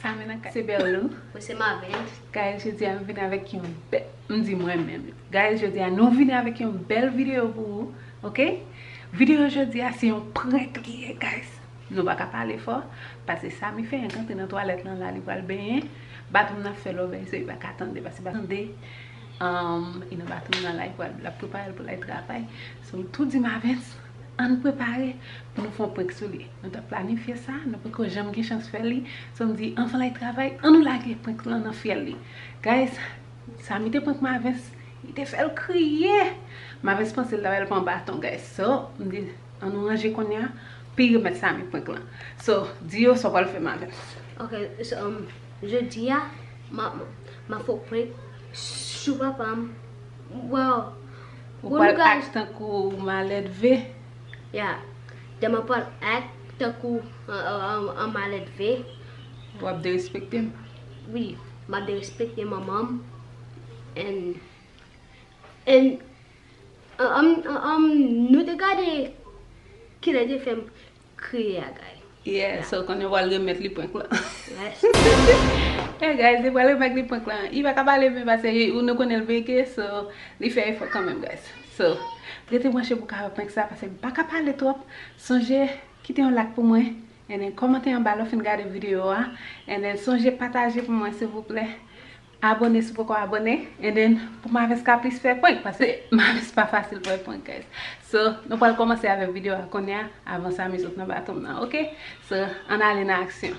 Samina ka se Berlou. Mwen se Marvens. Guys jodi a m vini avèk yon bèl m di mwen menm guys jodi a nou vini avèk yon bèl video pou ou ok video jodi a se yon prank li ye guys nou pa ka pale fò pase Samy fenk antre nan twalèt lan la li pral benyen baton m nan ap fè lòbèy so li pa ka tande pase baton m nan tande humm li nan baton m nan la li pral l ap prepare l pou l al travay so m tou di Marvens ann prepare pou nou fè yon prank sou li. Nou tap planifye sa, nou poko janm gen chans fè li, so m di anvan lay travay an nou lage prank lan nan fyèl li. Guys, Samy te prank Marvens, li te fèl kriye! Marvens panse l ta bal pran baton guys, so m di an nou ranje kounya pi remèt Samy prank lan. So, di yo sa w pral fè Marvens. Ok, so jodi a map fè w prank sou papa m, well Ou pral act tankou maledve. Ya. Dem a pral act tankou an maledve. Wap derespekte m. Wi. Map derespekte manman m and and an an nou te gade kilè te fem kriye a guy. Yeah so konn yo pral remet li prank lan. Yeah guys yo pral remet li prank lan. Li pa ka pale byen pase li nou konnen li bege so li fè efò kanmenm guys. So rete branche pou ka wè prank sa pase m pa ka pale twòp. Sonje kite yon lak pou mwen and then kòmante anba lè w fin gade video a and then sonje pataje pou mwen silvouplè. Abone si w poko abone and then pou Maverse ka plis fè prank pase Maverse pa fasil pou fè prank guys so nou pral komanse avèk video a kounya avan Samy sot nan baton m nan ok so ann ale nan aksyon.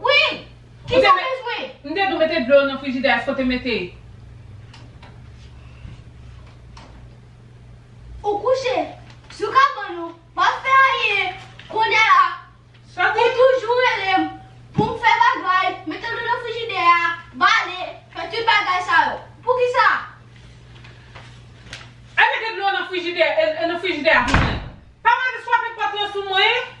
Wi! Ki sa w bezwen? M te di w mete dlo nan frijidè a eske w te mete? Ou kouche sou kabann ou p ap fè anyen kounye a ou toujou rele m pou m fè bagay, mete dlo nan frijidè a, bale, fè tout bagay sa yo. Poukisa? Al mete dlo nan frijidè a pou mwen. Pa mande swape pòt lan sou mwen.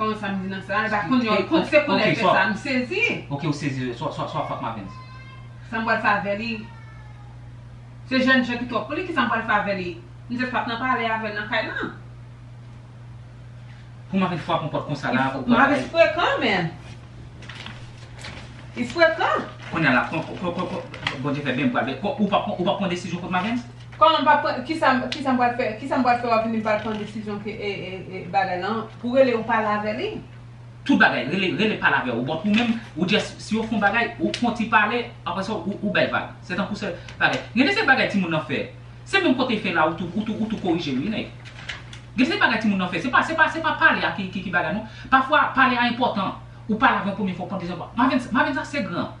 Koman sa mdi nan sa? Epa konn yon kont se koulè ke sa msezi. Ok ou sezi swa fuck Mavens. Sa m pral fè avè li? Se jèn jan ki twòp pou li kisa m pral fè avè li? M jès pap nan pale avè l nan kay lan. Pou Mavens fwape yon pòt konsa la ou pral bay. Mavens frekan menn. Li frekan. Kounya la Bondye fè byen m pral bay. Ou pap pran desizyon kont Mavens? Kòman m pa pran kisa kisa m pral fè kisa m pral fè wap vini m pral pran desizyon ke bagay lan pou rele ou pale avè li. Tout bagay rele rele pale avè ou bon pou menm ou just si yo fon bagay ou konti pale aprè sa ou ou bèl vag se tankou se bagay gen de se bagay timoun nan fè se menm kote fè la ou tou ou tou ou tou korije l wi nèg gen se bagay timoun nan fè se pa se pa se pa pale a ki ki bagay non pafwa pale a enpòtan ou pale avè yon premye fwa ou pran dezyèm fwa Mavensa Mavensa se gran.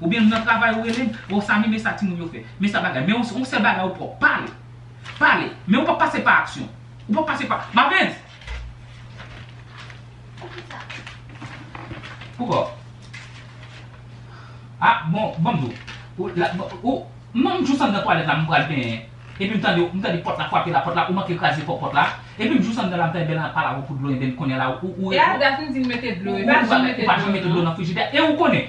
Ou byen m nan travay ou relem oh Samy men sa timoun yo fè men sa bagay men yon sèl bagay ou pwòp pale pale men ou pap pase pa aksyon ou pap pase pa Mavens Poukisa Poukò Ah bon banm di w ou la ou non m jous anndan twalèt la m pral benyen epi m tande m tande pòt la frape la pòt la ou manke kraze fò pòt la epi m jous anndan la m fè bèl anpale avè w pou dlo enben kounya la ou ou ou Epi Daphne di m mete dlo e m pa janm mete dlo nan frijidè e ou konnen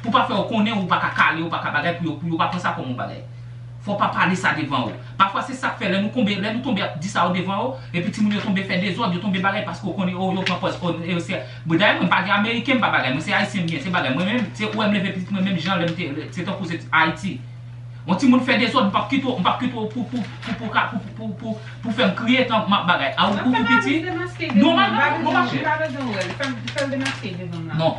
Pou pa fè yo konnen ou pa ka kale, ou pa ka bagay pou yo pou yo pa pran sa kòm yon bagay. Fò w pa pale sa devan yo. Pafwa se sa k fè lè nou konbe lè nou tonbe ap di sa yo devan yo, epi timoun yo tonbe fè dezòd, yo tonbe bagay paske yo konnen o yo pran pòz o e se Bon dayè mwen m pa gen ameriken m pa bagay mwen se ayisyen m gen se bagay mwen menm se ou wè m leve pitit mwen menm jan lè m te se tankou se t Ayiti. On timoun fè dezòd m p ap kite w m p ap kite w pou pou pou pou ka pou pou pou pou fè m kriye tan m ap bagay a ou ou piti nòmal nan non machè. Non.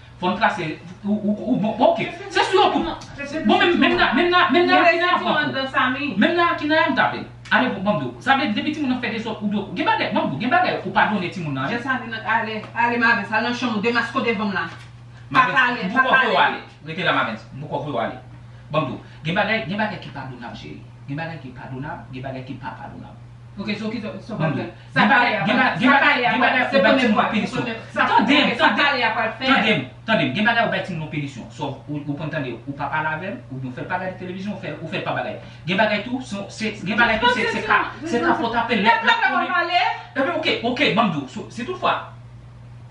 Fòn trase ou bon ok se sou yon tou bon menm nan menm nan menm nan akina yap pran kou menm nan akina yap tape ale bon banm diw sa vle di depi timoun nan fè dezòd ou dwe gen bagay banm diw gen bagay ou padone timoun nan wi ale mavens al nan chanm ou demasko devanm la pa pale pa pale mavens rete la mavens m poko vwew ale banm diw gen bagay gen bagay ki padonab cheri gen bagay ki padonab gen bagay ki pa padonab ok so kisa wap fè Sa pale a pral fè. Tandem, gen bagay ou bay timoun ou pinisyon. Sò, ou konn tande, ou pa pale avè l, ou byen w fè l pa gade televizyon, ou fè l pa bagay. Gen bagay tou, gen bagay tou se ka, se ka pou w tape l. Lè l pa vle w ap pale. Epi, ok, ok, ban m di w, si tout fwa.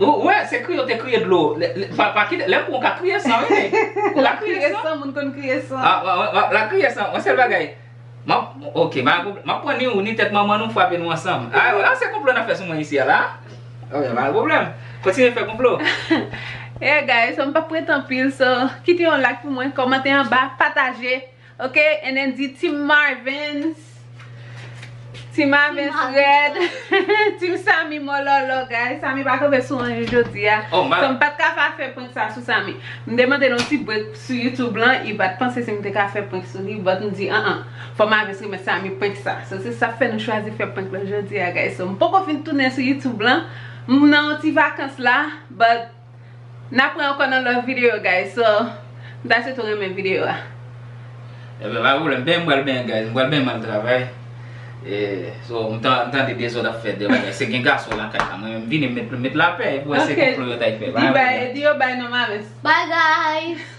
Ou wè se kriye ou te kriye dlo. Pa kite lè pou ou ka kriye san wi. Ou ka kriye san. Kriye san moun konn kriye san. A la kriye san on sèl bagay. Ok map pran ni ou ni tèt manman nou frape nou ansanm. A la se konplo nap fè sou mwen isi a la. Ok pa gen pwoblèm. Kontinye fè konplo. Hey guys m pap prete anpil so kite yon like pou mwen komante anba pataje. Ok and then di team marvens. Team marvens red. Team samy mololo guys. Samy pa kanpe sou anyen jodi a. Oh my. So m pat ka pa fè prank sa sou samy. M te mande l yon ti break sou youtube lan. I pat panse si m te ka fè prank sou li. But m di an an. Fò marvens remèt samy prank sa. So se sa fè nou chwazi fè prank lan jodi a guys. So m poko fin tounen sou youtube lan. M nan yon ti vakans la. But. N apre ankò nan lòt video guys so m ta swete w renmen video a. Ebyen pa pwoblèm ben m pral benyen guys m pral benyen m al travay e so m tande dezòd ap fèt devan guys se gen gason lakay la mwen menm vini m met lapè epi wè se konplo yo ta y fè. Di yo bay non mames. Bye guys.